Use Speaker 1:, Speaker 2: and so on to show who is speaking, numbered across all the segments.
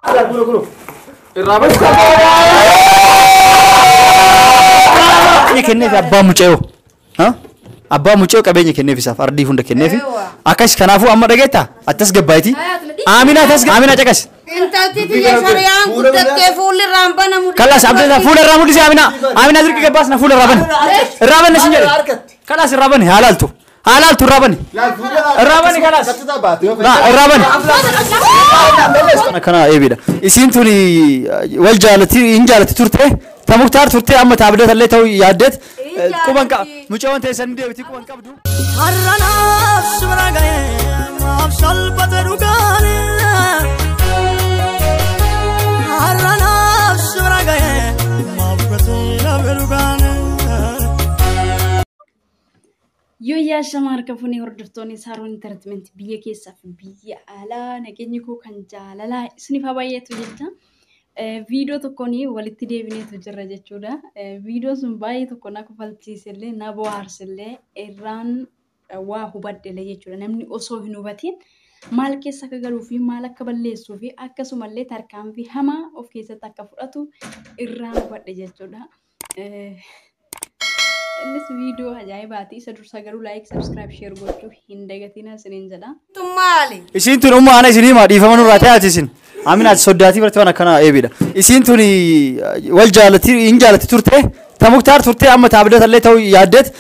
Speaker 1: Ala kuno kuno. Irraa basi. Qabeenya kenneef abbaa mucayoo. Ha? Abbaa mucayoo qabeenya kenneef isaaf ardii hunda kenneef. Eewwa. Akkas kanaafuu amma dhageetta attas gabbaayiti. Aaminaa attas aaminaa caqas. Intalti tiyya
Speaker 2: sariyaan guddattee fuulli irraan banamu. Kalas abdata fuula irraa
Speaker 1: mul'isi aaminaa. Aaminaa dirqi gabbaas na fuula irraa bani. Irraa bani na sin jedhe. Kalas irraa bani haalaaltu. Haa laaltu irraa bani. Irraa bani kanas. Laa irraa bani. Kana kana eebidha. Isiin tun wal jaalati hin jaalati turte. Ta muktaar turte amma ta abdata illee ta'uu yaaddeet. Quban qaba. Mucawwan teessan ni deebiti quban qabdu. Har'a
Speaker 3: naaf sumra ga'e maaf salphate dhugaan Har'a naaf sumra ga'e maaf gatii dhabe dhugaan
Speaker 4: Yoo yaashama harka funee hordoftoonni Saaroon Intartimentii biyya keessaa fi biyya alaa nageenyi koo kan jaalalaa isiniif haa baay'atu jecha viidiyoo tokkoon walitti deebineetu jirra jechuudha. Viidiyoon sun baay'ee tokko na kofalchiisellee na bohaarsellee irraan waa hubadhellee jechuudha. Namni osoo hin hubatiin maal keessa akka galuu fi maal akka balleessuu fi akkasumallee tarkaanfii hamaa of keessatti akka fudhatu irraa hubadhe jechuudha. Innis viidiyoo ajaa'ibaati. Isa dursaa garuu laayik, sabskiraayib, sheer gochuu hin dagatinaa isiniin jedha. Isiin
Speaker 2: tun umma ana
Speaker 1: isin hima dhiifama nurraa ta'e ati isin. Amina ati soddaatii bartee waan akkana eebidha. Isiin tun wal jaalatti hin jaalatti turte. Ta muktaar turte amma ta abdata illee ta'uu yaaddeet.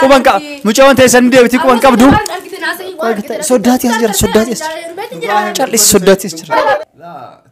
Speaker 1: Quban qaba. Mucaa waan ta'e san deebiti quban qabdu. Soddaatii as jira soddaatii as jira. Callis soddaatii as jira.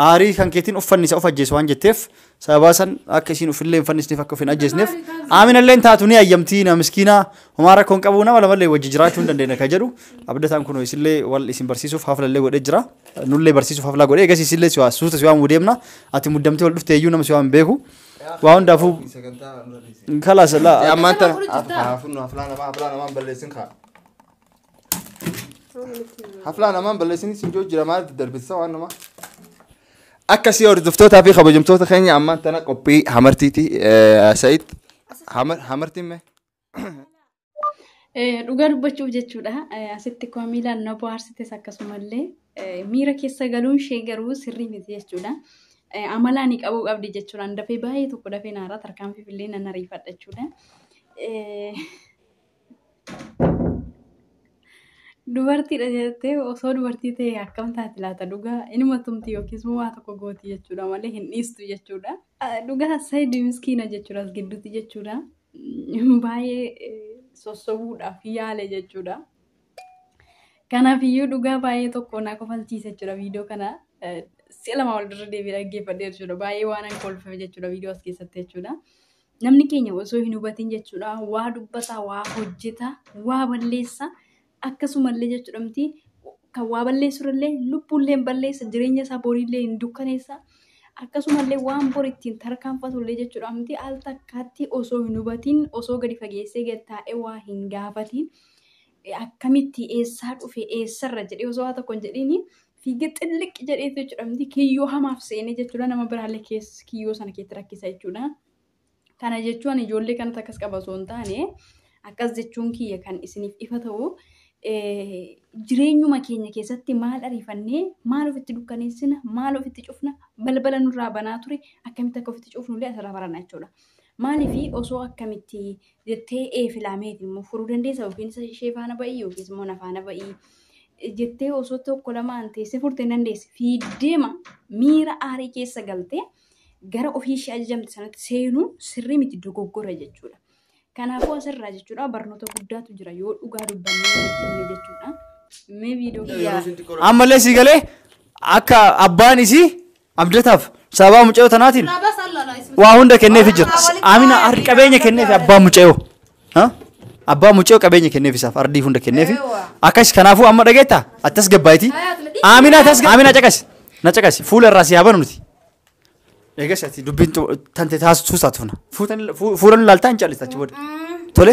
Speaker 1: Aarii kan keetiin uffanni isa of ajjeese waan jetteef sababaa san akka isiin ufillee hin fannisneef akka of hin ajjeesneef aaminallee hin taatu ni hayyamtii na miskiinaa homaa rakkoo hin qabu nama lamallee wajji jiraachuu hin dandeenya kan jedhu abdataan kun isillee wal isin barsiisuuf haflallee godhee jira nullee barsiisuuf haflaa godhee egas isillee siwaa suuta siwaa muu deemna ati muddamtee wal dhufte iyyuu nama siwaa hin beeku waa hundaafuu kalaas laa Ammaan tana.
Speaker 5: Haa funnu haflaa namaa haflaa namaa hin balleessin kaa. Haflaan amaan balleessanii siin jiru jira maal darbisa waan namaa. Akkasii hordoftootaa fi kabajamtoota keenya ammaan tana qophii hamartiiti Said hamartiin mee.
Speaker 4: Dhugaa dubbachuuf jechuudha asitti komiilaan na bohaarsites akkasumallee miira keessa galuun ishee garuu sirrii miti jechuudha. Amalaa ni qabuu qabdi jechuudhaan dafee baay'ee tokko dafee naara tarkaanfiif illee nan ariifadha jechuudha. Dubartiidha jettee osoo dubartii ta'e akkam taati laata dhugaa inuma tumti yookiis moo waa tokko gooti jechuudha malee hin dhiistu jechuudha. Dhugaa Said miskiina jechuudha as gidduutti jechuudha. Baay'ee sossobuudhaaf yaale jechuudha. Kanaaf iyyuu dhugaa baay'ee tokko na kofalchiisa jechuudha viidiyoo kana. Si'a lama wal dirra deebi'ee dhaggeeffadhe jechuudha. Baay'ee waan an kolfeef jechuudha viidiyoo as keessatti jechuudha. namni keenya osoo hin hubatin jechuudha waa dubbataa waa hojjetaa waa balleessaa akkasumallee jechuudha miti kan waa balleessurallee lubbuullee hin balleessa jireenya isaa boriillee hin dukkaneessa akkasumallee waan bor ittiin tarkaanfatullee jechuudha miti al takkaatti osoo hin hubatin osoo gadi fageessee gad taa'ee waa hin gaafatin akkamitti eessaa dhufe eessarra jedhee osoo waa tokko hin jedhiin Fiigee xilliqqi jedheetu jechuudha miti kiyyoo hamaaf seenee jechuudha nama biraallee keessa kiyyoo sana keessatti rakkisa jechuudha. Kana jechuun ijoollee kanatti akkas qaba osoo hin taane akkas jechuun kiyya kan isiniif ifa ta'u jireenyuma keenya keessatti maal ariifannee maal ofitti dukkaneessina maal ofitti cufna balbala nurraa banaa ture akkamitti akka ofitti cufnullee asirraa barana jechuudha. Maalifi osoo akkamitti jettee ee filaa meeti immoo furuu dandeessa yookiin isa ishee faana ba'ii yookiis immoo na faana ba'ii jettee osoo tokko lamaan teessee furtee hin dandeessi fiiddeema miira aarii keessa galtee gara ofii ishee ajajamte sanatti seenuun sirrii miti dogoggora jechuudha. Kanaafuu asirraa jechuudha barnoota guddaatu jira yoo dhugaa dubbannee walitti himne jechuudha. Mee viidiyoo kiyyaa Ammallee sii galee
Speaker 1: akka abbaan isii Abdataaf sababaa mucayyoo tanaatiin waa hunda kenneefi jira. Amina ardi qabeenya kenneefi abbaa mucayyoo. Ha? Abbaa mucayyoo qabeenya kenneefi isaaf ardii hunda kenneefi. Akkas kanaafuu amma dhageetta attas gabbaayiti. Amina tas Amina caqasi. Na caqasi fuula irraa si haa banu nuti. Eegas ati dubbiin tu- tante taasisuu isaa tufna. Fuutan- fuu- Fuula nu laaltaa hin callistachi booda. Tole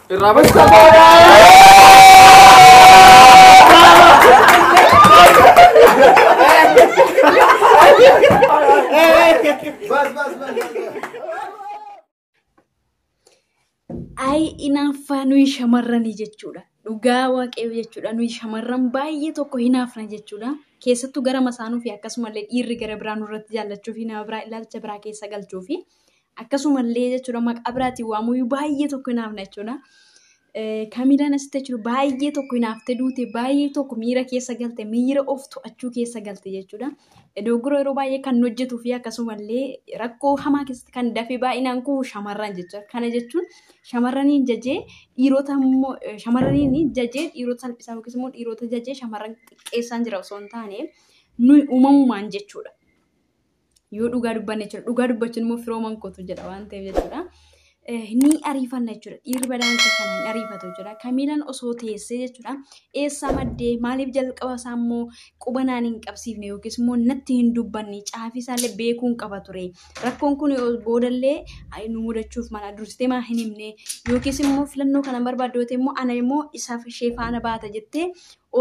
Speaker 1: Irraa bari
Speaker 4: saboodha. Ayi inaaffaa nuyi shamarranii jechuudha. Dhugaa waaqayyoo jechuudha. Nuyi shamarran baay'ee tokko hinaafna jechuudha. Keessattuu gara masaanuu fi akkasumallee dhiirri gara biraa nurratti jaallachuu fi nama biraa ilaalcha biraa keessa galchuu fi Akkasumallee jechuudha maqaa biraatiin waamuyyuu baay'ee tokko hin hafne jechuudha. Kamiilaan asitti jechuudha baay'ee tokko hin hafte duute baay'ee tokko miira keessa galte miira of to'achuu keessa galte jechuudha. Dogoggora yeroo baay'ee kan hojjetuu fi akkasumallee rakkoo hamaa keessatti kan dafee baay'inaan kufu shamarran jechuudha. Kana jechuun shamarraniin jajee dhiirota immoo shamarraniin jajee dhiirota salphisaa yookiis immoo dhiirota jajee shamarran xiqqeessaan jira osoo hin taane nuyi uumamumaan jechuudha. Yoo dhugaa dubbanne jechuudha. Dhugaa dubbachuun immoo firooman kootu jedha waan ta'eef jechuudha. Eh, Ni ariifanna jechuudha. Dhiirri badaan isa kana hin ariifatu jechuudha. Kamiilan osoo teessee jechuudha. Eessaa maddee maaliif jalqaba isaa immoo quba naan hin qabsiifne yookiis immoo natti hin dubbanne caafii isaallee beekuun qaba ture. Rakkoon kun yoo boodallee ay, nu mudachuuf mala dursitee maa hin himne yookiis immoo filannoo kana hin barbaaddu yoo ta'e immoo ana immoo isaaf ishee faana baata jettee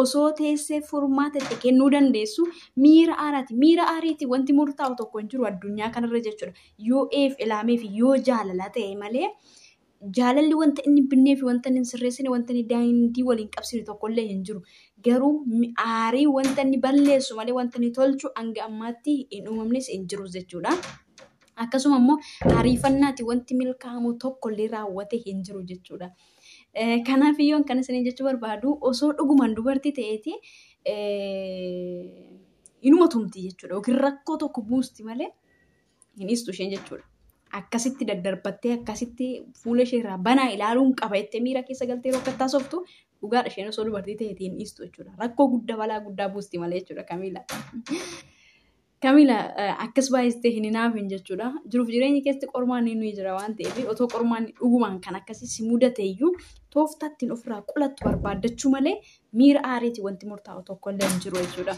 Speaker 4: osoo teessee furmaata itti kennuu dandeessu miira aaraati. Miira aariitiin wanti murtaa'u tokko hin jiru addunyaa kanarra jechuudha. Yoo eef ilaamee fi yoo jaalala ta'e malee jaalalli wanta inni binnee fi wanta inni hin sirreessine wanta inni daandii waliin qabsine tokkollee hin jiru. Garuu mi- aarii wanta inni balleessu malee wanta inni tolchu hanga ammaatti hin uumamnes hin jirus jechuudha. Akkasuma immoo ariifannaati wanti milkaa'amu tokkollee raawwate hin jiru jechuudha. Kanaaf iyyuu kan isiniin jechuu barbaadu osoo dhugumaan dubartii ta'eeti inuma tumti jechuudha. Yookiin rakkoo tokko buusti malee hin dhiistu isheen jechuudha. Akkasitti daddarbattee akkasitti fuula ishee irraa banaa ilaaluun qaba jettee miira keessa galtee yeroo akkattaa softu dhugaadha isheen osoo dubartii ta'eeti hin dhiistu jechuudha. Rakkoo guddaa balaa guddaa buusti malee jechuudha Kamiila. Kamila akkas baay'istee hin hinaafin jechuudha. Jiruuf jireenyi keessatti qormaan inni nuyi jira waan ta'eef otoo qormaan dhugumaan kan akkasii si mudate iyyuu tooftaa ittiin ofirraa qolattu barbaaddachuu malee miira aariiti wanti murtaa'u tokko illee hin jiru jechuudha.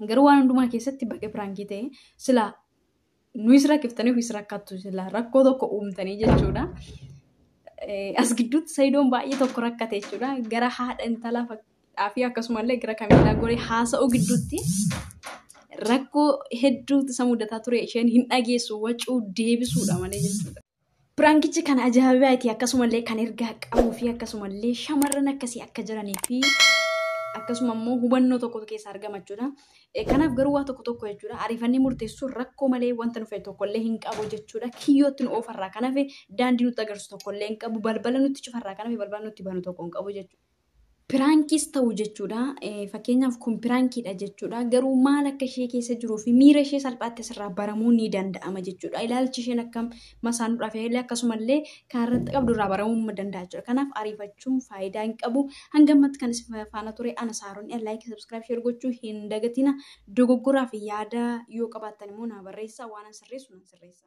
Speaker 4: Garuu waan hundumaa keessatti baga piraankii ta'e silaa nuyis rakkiftanii ofis rakkattu silaa rakkoo tokko uumtanii jechuudha. As gidduutti sayidoon baay'ee tokko rakkate jechuudha. Gara haadha intalaa dhaafii akkasumallee gara kameeraa goree haasa'uu gidduutti rakkoo hedduutu isa mudataa ture isheen hin dhageessu wacuu deebisuudha malee jechuudha. Piraankichi kan ajaa'ibaati akkasumallee kan ergaa qabuu fi akkasumallee shamarran akkasii akka jiranii fi akkasuma immoo hubannoo tokkotu keessa argama jechuudha. Eh, Kanaaf garuu waa tokko tokko jechuudha ariifannee murteessuun rakkoo malee wanta nu fayyadu tokkollee hin qabu jechuudha. Kiyyootti nu oofarraa kan hafe daandii nutti agarsiisu tokkollee hin qabu balbala nutti cufarraa kan hafe balbala nutti banu tokko hin qabu jechuudha. piraankiis ta'u jechuudha. Fakkeenyaaf kun piraankiidha jechuudha. Garuu maal akka ishee keessa jiruu fi miira ishee salphaatti asirraa baramuu ni danda'ama jechuudha. Ilaalchi isheen akkam masaanuudhaaf illee akkasumallee kan irratti qabdu irraa baramuu ni danda'a jechuudha. Kanaaf ariifachuun faayidaa hin qabu. Hanga ammatti kan isin faana ture ana saaroon laayikii sabskiraayib sheer gochuu hin dagatina. Dogoggoraa fi yaada yoo qabaattan immoo naa barreessaa waan an sirreessu nan sirreessa.